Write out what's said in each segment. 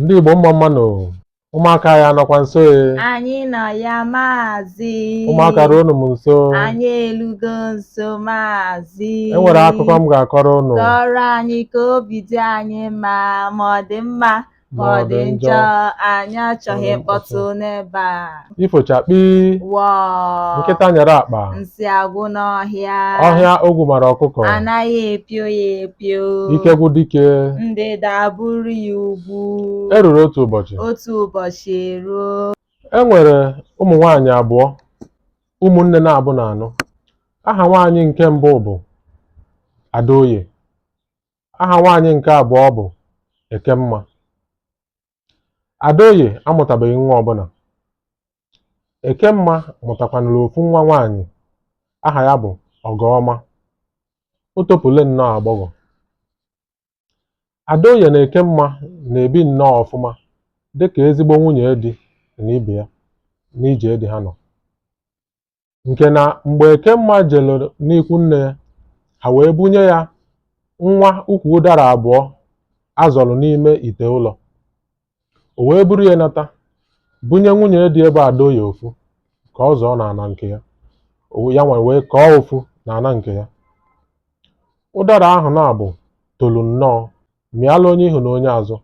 Ndị Igbo mma mma nụ ụmụaka ya nọkwa nso e. anyị nọ ya maazị ụmụaka ruo unu m nso anyị elugo nso maazị e nwere akụkọ m ga-akọrọ unu kọrọ anyị ka obi dị anyị mma ma ọ dị mma ma ọ dị njọ anyị achọghị mkpọtụ n'ebe a ifochakpi wọọ nkịta nyere akpa nsị agwụ n'ọhịa ọhịa ogwu mara ọkụkọ anaghị epio ya epio ike gwụ dike ndịda abụrụ ya ugwu e ruru otu ụbọchị otu ụbọchị eruo e nwere ụmụ nwaanyị abụọ ụmụnne naabọ na-anụ aha nwaanyị nke mbụ bụ adaoye aha nwaanyị nke abụọ bụ ekemma Adaoye amụtabeghị nwa ọbụna. Ekemma mụtakwanụrụ ofu nwa nwaanyị aha ya bụ Ọgọọma. O topule nnọọ agbọghọ. Adaoye na Ekemma na-ebi nnọọ ọfụma dịka ezigbo nwunye di na ibe ya n'ije di ha nọ. nke na mgbe Ekemma jelu n'ikwu nne ya ha wee bunye ya nwa ukwu ụdara abụọ a zọrọ n'ime ite ụlọ o wee buru ya nata bunye nwunye di ya bụ Adaoye ofu ka ọ zọọ n'ana nke ya ya nwa wee kọọ ofu n'ana nke ya ụdara ahụ naabọ tolu nnọọ mịala onye ihu na onye azụ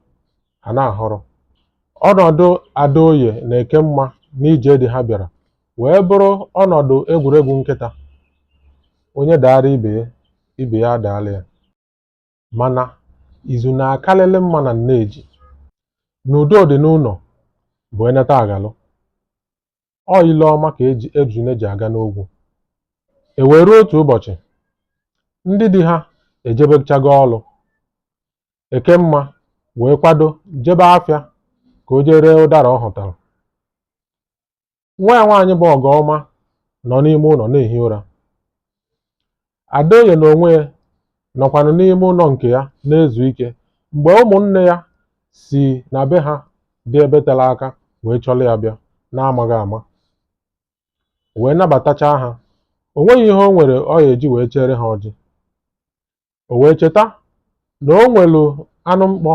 ha na-ahụrụ. Ọnọdụ Adaoye na Ekemma n'ije di ha bịara wee bụrụ ọnọdụ egwuregwu nkịta, onye daara ibe ya, ibe ya adaala ya. Mana izu na-akalịlị mma na nne ji, na udo dị n'ụnọ bụ e neta a ghalụ. ọ ile ọma ka ejune ji aga n'ogwu e wee ruo otu ụbọchị ndị di ha ejebechago ọlụ ekemma wee kwado jebe afịa ka o jee ree ụdara ọ hụtara nwa ya nwaanyị bụ ọgọọma nọ n'ime ụnọ na-ehi ụra Adaoye na onwe ya nọkwanụ n'ime ụlọ nke ya na-ezu ike mgbe ụmụnne ya si na be ha dị ebe tere aka wee chọrọ ya bịa n'amaghị ama o wee nabatachaa ha o nweghị ihe o nwere ọ ya-eji wee chere ha ọjị o wee cheta na o nwelu anụ mkpọ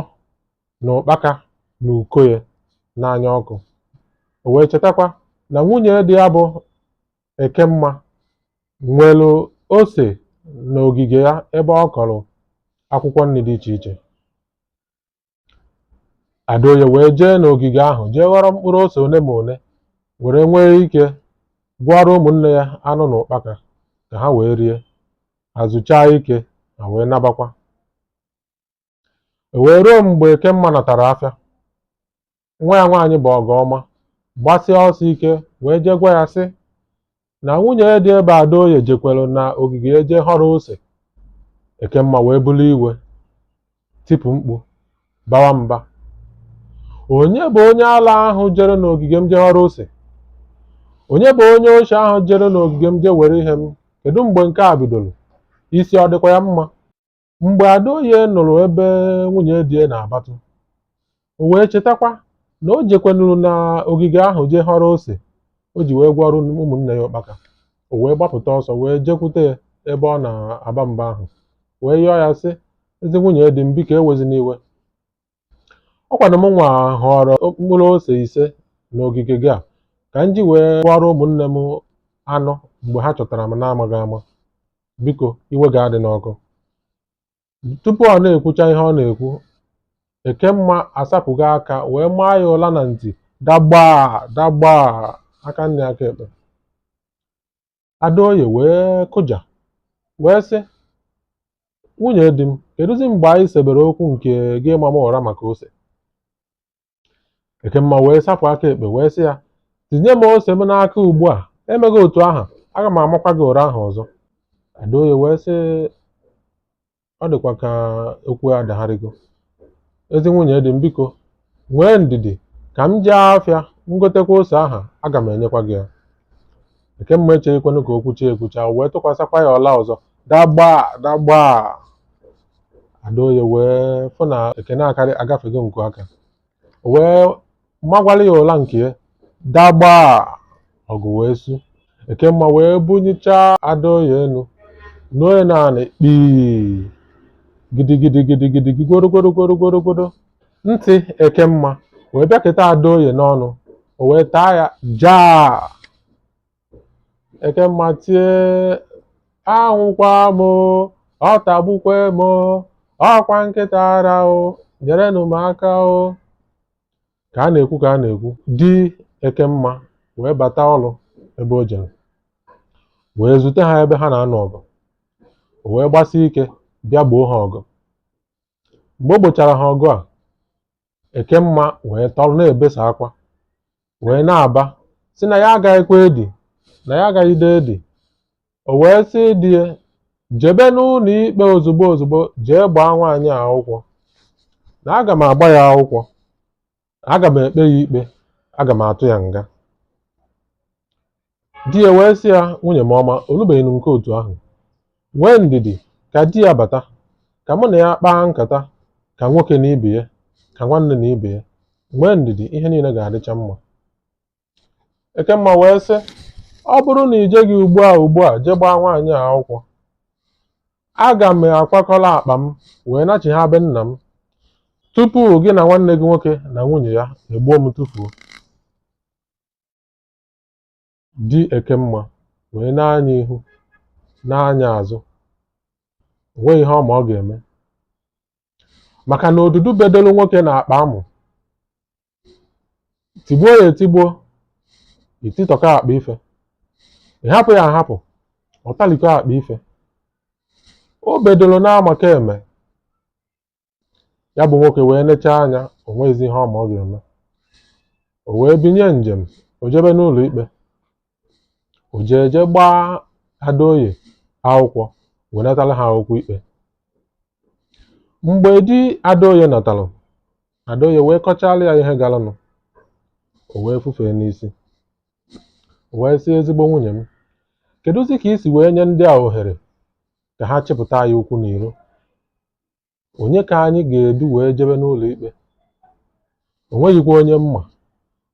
na ụkpaka n'uko ya n'anya ọkụ o wee chetakwa na nwunye di ya bụ Ekemma nwelu ose n'ogige ya ebe ọ kọrọ akwụkwọ nni dị iche iche Adaoye wee jee n'ogige ahụ jee ghọrọ mkpụrụ ose one ma one were nwee ike gwọọrọ ụmụnne ya anụ na ụkpaka ka ha wee rie ha zuchaa ike ha wee nabakwa E wee ruo mgbe Ekemma natara afịa, nwa ya nwaanyị bụ Ọgọọma gbasịa ọsọ ike wee jee gwa ya sị na nwunye di ya bụ Adaoye jekwere na ogige ya jee họrọ ose. Ekemma wee bulu iwe, tipụ mkpu, bawa mba. Onye bụ onye ala ahụ jere n'ogige m jee họrọ ose? Onye bụ onye oshi ahụ jere n'ogige m jee were ihe m? Kedu mgbe nke a bidoro? Isi ọ dịkwa ya mma? Mgbe Adaoye nụrụ ebe nwunye di ya na-abatụ, o wee chetakwa na o jekwenuru na ogige ahụ jee họrọ ose o ji wee gwọrọ ụmụnne ya ụkpaka. O wee gbapụta ọsọ wee jekwute ya ebe ọ na-aba mba ahụ wee yọọ ya sị, Ezi nwunye di m, biko ewezina iwe. ọ kwanụ m nwa họrọ mkpụrụ ose ise n'ogige gị a ka m ji wee gwọrọ ụmụnne m anọ mgbe ha chọtara m n'amaghị ama biko iwe gị adịna ọkụ tupu ọ na-ekwucha ihe ọ na-ekwu Ekemma asapụgo aka wee maa ya ụla na ntị dagbaa dagbaa aka nni aka ekpe Adaoye wee kụja wee sị nwunye di m kedụzi mgbe anyị sebere okwu nke gị ịma m ụra maka ose Ekemma wee sapụ aka ekpe wee sị ya tinye m ose m n'aka ugbu a emeghị otu ahụ aga m amakwa gị ụra ahụ ọzọ Adaoye wee sị ọ dịkwa ka okwu adagharịgo ezi nwunye di m biko nwee ndidi ka m jee afịa ngotekwa ose ahụ aga m enyekwa gị ya Ekemma echeghịkwanụ ka o kwucha ekwucha wee tụkwasịkwa ya ụla ọzọ dagbaa dagbaa Adaoye wee fụ na ekene akarị agafego nku aka wee magwara ya ụla nke ya dagbaa ọgụ wee su Ekemma wee bunyichaa Adaoye enu nuo ya n'anị kpii gidigidi gidigidi gigorogorogorogorogodo ntị Ekemma wee bịaketa Adaoye n'ọnụ o wee taa ya jaa Ekemma tie anwụkwa m o, ọ tagbukwe m o, ọkwa nkịta ara o nyerenụ m aka o ka a na-ekwu ka a na-ekwu di Ekemma wee bata ọrụ ebe o jere wee zute ha ebe ha na-anụ ọgụ o wee gbasie ike bịa gboo ha ọgụ mgbe o gbochara ha ọgụ a Ekemma wee tọrọ na-ebesa akwa wee na-aba sị na ya agaghịkwa edi na ya agaghịde edi o wee sị di ya jebe n'ụlọ ikpe ozugbo ozugbo jee gbaa nwaanyị a akwụkwọ na aga m agba ya akwụkwọ aga m ekpe ya ikpe aga m atụ ya nga Di ya wee sị ya, Nwunye m ọma, o lubeghị nke otu ahụ. Nwee ndidi ka di ya bata, ka mụ na ya kpaa nkata ka nwoke na ibe ya, ka nwanne na ibe ya. Nwee ndidi, ihe niile ga-adịcha mma. Ekemma wee sị, Ọ bụrụ na i jeghị ugbu a ugbu a jee gbaa nwaanyị a akwụkwọ, aga m akwakọrọ akpa m wee nachigha be nna m tupu gị na nwanne gị nwoke na nwunye ya egbuo m tufuo. di Ekemma wee nee anya ihu nee anya azụ o nweghị ihe ọ ma ọ ga-eme maka na odudu bedolu nwoke n'akpa amụ tigbuo ya etigbuo i titọkọ akpa ife ị hapụ ya ahapụ ọ talikọ akpa ife o bedoro n'amaka eme ya bụ nwoke wee nechaa anya o nweghịzi ihe ọ ma ọ ga-eme o wee binye njem o jebe n'ụlọ ikpe o jee jee gbaa adaoye akwụkwọ wee natara ha akwụkwọ ikpe mgbe di adaoye natara adaoye wee kọchalụ ya ihe galanụ o wee fufee n'isi o wee sị ezigbo nwunye m kedụzi ka i si wee nye ndị a ohere ka ha chịpụta anyị ụkwụ n'iro onye ka anyị ga-edu wee jebe n'ụlọ ikpe o nweghịkwa onye m ma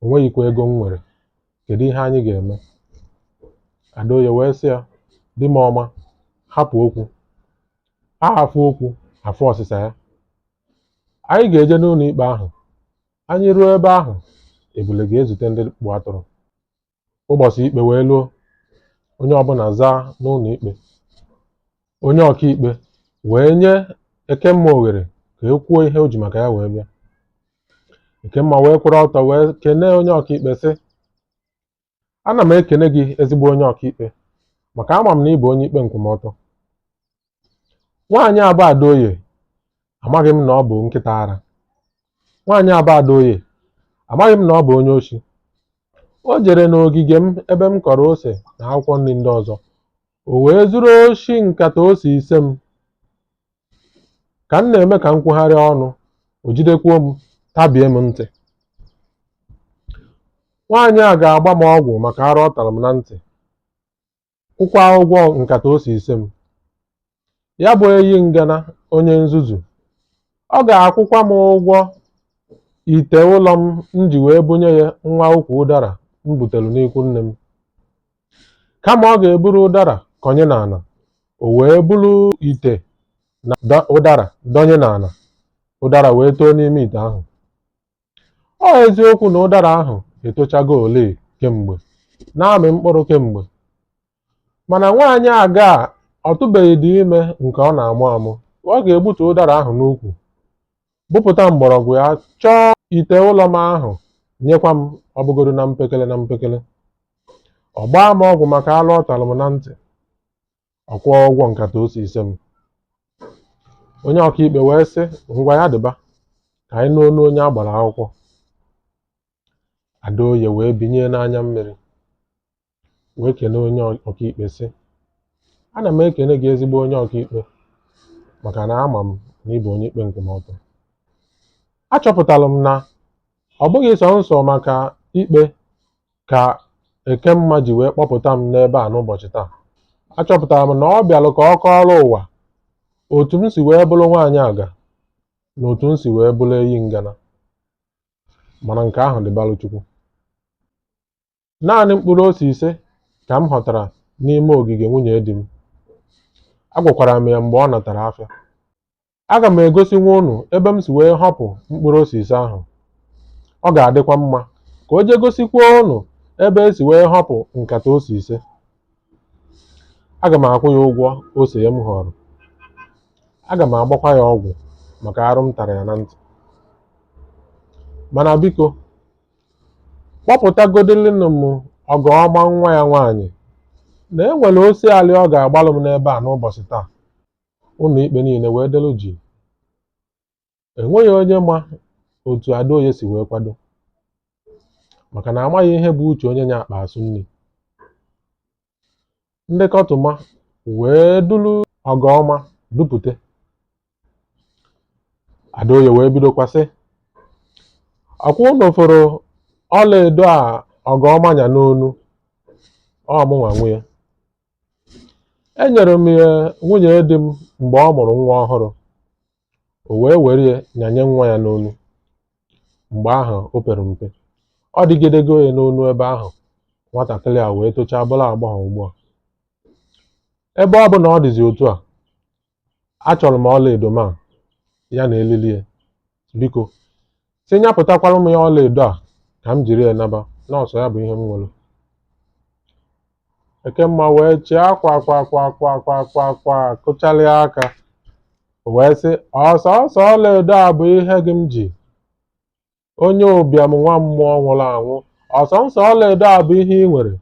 o nweghịkwa ego m nwere kedu ihe anyị ga-eme adaoye wee sị ya di m ọma hapụ okwu a fụ okwu a fụ ọsịsa ya anyị ga-eje n'ụlọ ikpe ahụ anyị ruo ebe ahụ ebule ga-ezute ndị kpụ atụrụ ụbọchị ikpe wee luo onye ọbụla zaa n'ụlọ ikpe onye ọkaikpe wee nye ekemma oghere ka e kwuo ihe o ji maka ya wee bịa ekemma wee kwụrụ ọtọ wee kenee onye ọkaikpe sị ana m ekene gị ezigbo onye ọkaikpe maka ama m na ị bụ onye ikpe nkwụmọtọ nwaanyị a bụ Adaoye amaghị m na ọ bụ nkịta ara nwaanyị a bụ Adaoye amaghị m na ọ bụ onye oshi o jere n'ogige m ebe m kọrọ ose na akwụkwọ nri ndị ọzọ o wee zuru oshi nkata ose ise m ka m na-eme ka m kwugharịa ọnụ o jidekwuo m tabie m ntị nwaanyị a ga-agba m ọgwụ maka arụ ọ tara m na ntị kwụkwa ụgwọ nkata ose ise m ya bụ eyi ngana onye nzuzu ọ ga-akwụkwa m ụgwọ ite ụlọ m m ji wee bunye ya nwa ukwu ụdara m butere n'ikwu nne m kama ọ ga-eburu ụdara kọnye n'ala o wee buru ite na ụdara dọnye n'ala ụdara wee too n'ime ite ahụ Ọ eziokwu na ụdara ahụ etochago ole kemgbe na-amị mkpụrụ kemgbe mana nwaanyị aga ọ tụbeghịdị ime nke ọ na-amụ amụ ọ ga-egbutu ụdara ahụ n'ukwu bupụta mgbọrọgwụ ya chọọ ite ụlọ m ahụ nyekwa m ọ bụgodu na mpekele na mpekele ọ gbaa m ọgwụ maka alụ ọ talụ m na ntị ọ kwụọ ụgwọ nkata ose ise m onye ọkaikpe wee sị ngwa ya dịba ka anyị nụ onu onye a gbara akwụkwọ adaoye wee binye n'anya mmiri wee kene onye ọkaikpe sị ana m ekene gị ezigbo onye ọkaikpe maka na ama m na ị bụ onye ikpe nkwụmọtọ achọpụtara m na ọ bụghị sọnsọ maka ikpe ka Ekemma ji wee kpọpụta m n'ebe a n'ụbọchị taa achọpụtara m na ọ bịalụ ka ọ kọọrọ ụwa otu m si wee bụrụ nwaanyị aga na otu m si wee bụrụ eyi ngana mana nke ahụ dịbalụ Chukwu naanị mkpụrụ ose ise ka m họtara n'ime ogige nwunye di m agwakwara m ya mgbe ọ natara afịa Aga m egosinwu unu ebe m si wee họpụ mkpụrụ ose ise ahụ. Ọ ga-adịkwa mma ka o jee gosikwa unu ebe e si wee họpụ nkata ose ise. Aga m akwụ ya ụgwọ ose ya m họrọ. Aga m agbakwa ya ọgwụ maka arụ m tara ya na ntị. Mana biko, kpọpụtagodịlịnụ m Ọgọọma nwa ya nwaanyị na e nwere osialị ọ ga-agbalụ m n'ebe a n'ụbọchị taa. ụlọ ikpe niile wee delu jii enweghị onye ma otu Adaoye si wee kwado maka na amaghị ihe bụ uche onye nya akpa asụ nri ndị kọtụma wee duru ọgọọma dupụte Adaoye wee bidokwa sị ọ kwa unu fụrụ ọlaedo a ọgọọma nya n'onu ọ mụnwa nwe ya enyere m ya nwunye di m mgbe ọ mụrụ nwa ọhụrụ o wee were ya nyanye nwa ya n'onu mgbe ahụ o pere mpe ọ dịgidego ya n'onu ebe ahụ nwatakịrị a wee tochaa bụrụ agbọghọ ugbu a ebe ọ bụ na ọ dịzi otu a achọrọ m ọlaedo m a ya na elili ya biko si nyapụtakwara m ya ọlaedo a ka m jiri ya naba na ọ sọ ya bụ ihe m nwere ekemma wee chịa kwa kwa kwa kwa kwa kụchalịa aka wee sị ọ sọọsọ ọlaedo a bụ ihe gị m ji onye ụbịam nwa mmụọ nwụrụ anwụ ọ sọsọ ọlaedo a bụ ihe i nwere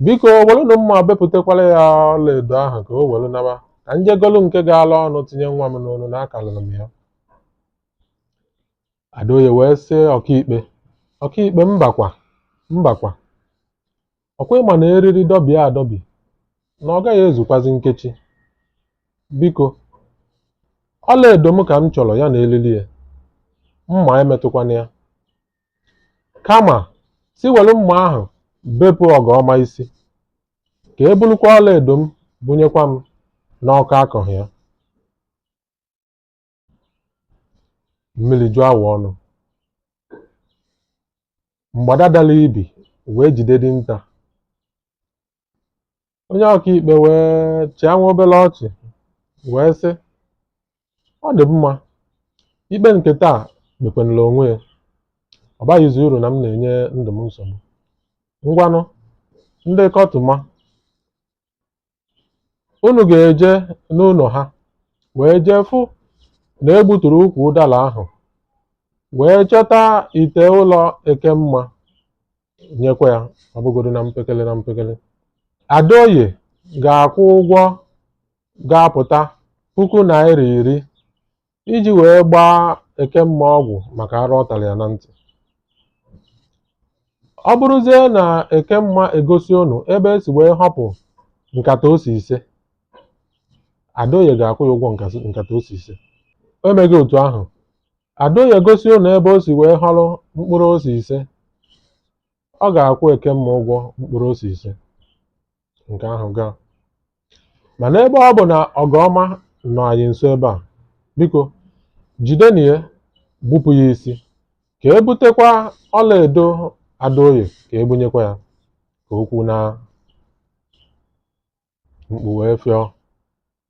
biko welunu mma bepụtakwara ya ọlaedo ahụ ka o welu naba ka m jee golu nke gala ọnụ tinye nwa m n'onu na akalịrị m ya adaoye wee sị ọkaikpe ọkaikpe mbakwa mbakwa Ọkwa ị ma na eriri dọbie adọbi na ọ gaghị ezukwazi nkechi biko ọlaedo m ka m chọrọ ya na elili ya mma emetụkwana ya kama si welu mma ahụ bepụ ọgọma isi ka e bulukwa ọlaedo m bunyekwa m n'ọkọ akọghị ya mmiri juo awọ ọnụ mgbada dara ibi wee jide dinta onye ọkaikpe wee chịa nwa obere ọchị wee sị ọ dị mma ikpe nke taa kpekwanụla onwe ya ọ baghịzi uru na m na-enye ndụ m nsogbu ngwanụ ndị kọtụma unu ga-eje n'ụlọ ha wee jee fụ na e gbuturu ukwu ụdara ahụ wee chọta ite ụlọ ekemma nyekwa ya ọ bụgodo na mpekele na mpekele adaoye ga-akwụ ụgwọ ga-apụta puku naira iri iji wee gbaa Ekemma ọgwụ maka arụ ọ tara ya na ntị. Ọ bụrụzie na Ekemma egosi unu ebe e si wee họpụ nkata ose ise, Adaoye ga-akwụ ya ụgwọ nkata ose ise. O meghị otu ahụ, Adaoye gosi unu ebe o si wee họrọ mkpụrụ ose ise, ọ ga-akwụ Ekemma ụgwọ mkpụrụ ose ise. nke ahụ gaa mana ebe ọ bụ na ọgọma nọ anyị nso ebe a biko jidenu ya gbupụ ya isi ka e butekwa ọlaedo adaoye ka e bunyekwa ya ka okwu na mkpu wee fịọ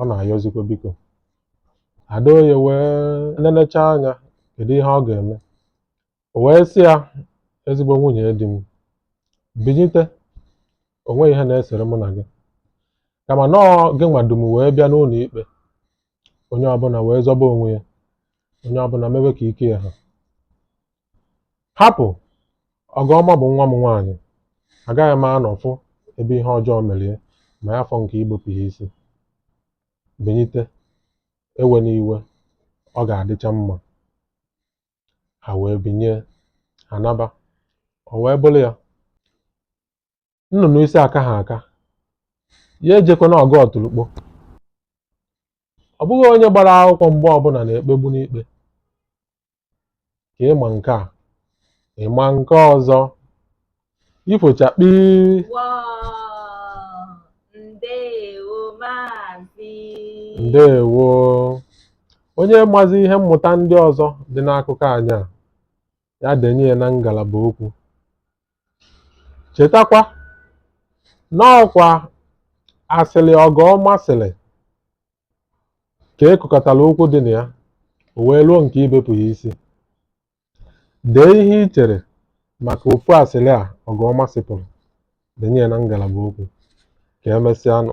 ọ na-ayọzikwa biko adaoye wee nenecha anya kedu ihe ọ ga-eme o wee sị ya ezigbo nwunye di m binyite o nweghị ihe na-esere mụ na gị kama na ọ gị nwa du m wee bịa n'ụlọ ikpe onye ọbụla wee zọba onwe ya onye ọbụla mewe ka ike ya ha Hapụ! Ọgọma bụ nwa m nwaanyị. Agaghị m anọ fụ ebe ihe ọjọọ mere ya ma ya fọ nke igbupụ ya isi. Binyite, ewena iwe, ọ ga-adịcha mma. Ha wee binye, ha naba. O wee bụrụ ya, nnụnụ isi akaha aka ya ejekwana ọgụ ọtụrụkpọ ọ bụghị onye gbara akwụkwọ mgbe ọbụla na-ekpegbu n'ikpe ka ịma nke a ịma nke ọzọ ifo chakpii ndewo onye mazi ihe mmụta ndị ọzọ dị n'akụkọ anyị a ya denye ya na ngalaba okwu chetakwa n'ọkwa asịrị ọgọ ọma sịrị ka e kwukọtara okwu dị na ya o wee ruo nke ibepụ ya isi dee ihe i chere maka ofu asịrị a ọgọ ọma sịpụrụ denye ya na ngalaba okwu ka emesịa nụ